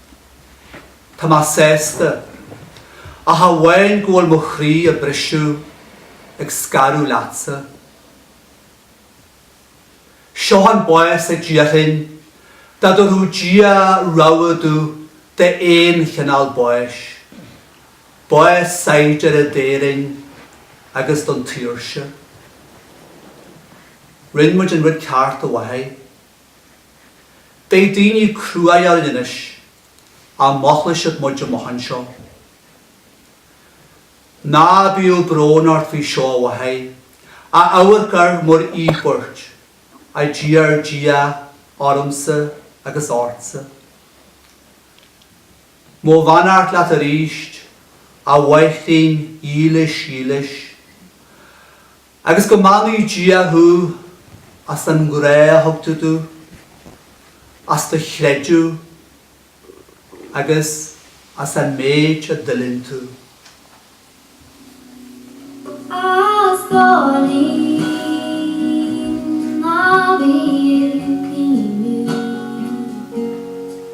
Tá mé sásta, ach amháin go bhfuil mo chroí ag briseadh ag scaradh leatsa. Seo an bás a d'iarrfainn dá dtabharfadh Dia rogha domh d'aon chineál báis, bás saighdiúra d'Éirinn agus don tSaoirse. Rinn muid an rud ceart a mháthair. Beidh daoine cruaidh linn anois ach molfaidh siad muid amach anseo. Ná bíodh brón ort faoi seo a mháthair, ach amharc air mar íobairt, a d'iarr Dia ormsa agus ortsa. Mo bheannacht leat arís, a Mháithrín dhílis dhílis. Agus go mbeannaí Dia thú as an ngrá a thug tú domh, as do chreideamh agus as an méid a d'fhuiling tú. As do linn a bhí ag caoineadh.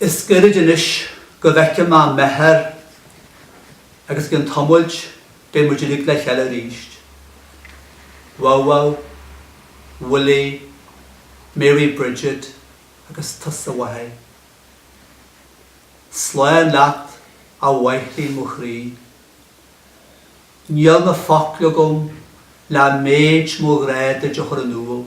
Is goirid anois go bhfeicfidh mé m'athair agus i gceann tamaill beidh muid uilig le chéile arís. Wow-wow, Willie, Mary Bridget agus tusa a mháthair. Slán leat a Mháithrín mo chroí. Níl na focail agam le méid mo ghrá duit a chur in iúl.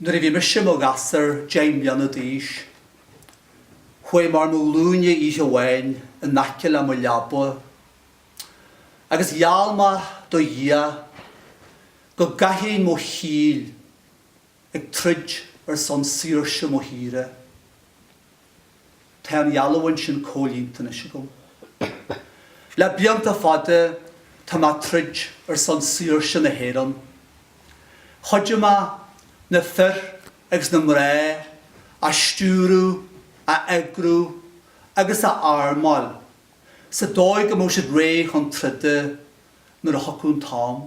Nuair a bhí mise i mo ghasúr, deich mbliana d'aois, chuaigh mé ar mo ghlúine oíche amháin in aice le mo leaba agus gheall mé do Dhia go gcaithfinn mo shaol ag troid ar son saoirse mo thíre. Tá an gheallúint sin comhlíonta anois agam. Le blianta fada tá mé ag troid ar son saoirse na hÉireann. Chuidigh mé na fir agus na mná a stiúradh, a eagrú agus a armáil sa dóigh go mbeadh siad réidh chun troda nuair a thiocfadh an t-am.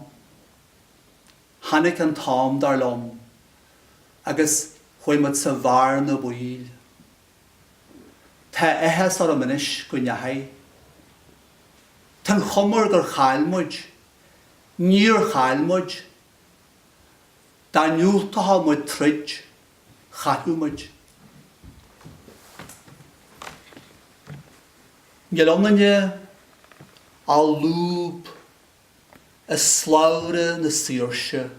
Tháinic an t-am dar liom agus chuaidh muid sa bhearna baoil. Tá áthas orm anois go ndeachaidh. Tá'n chuma air gur chaill muid. Níor chaill muid. Dá ndiúltóchadh muid troid chaillfeadh muid. Níl ionainne ach lúb. i slabhra na saoirse.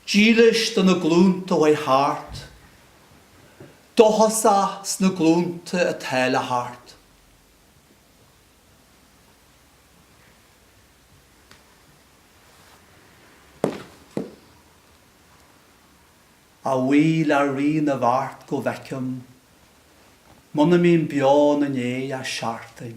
Dílis do na glúnta a chuaidh thart. Dóchasach sna glúnta atá le theacht. A bhuí le Rí na bhFeart go bhfeicim, muna mbím beo ina dhéidh ach seachtain.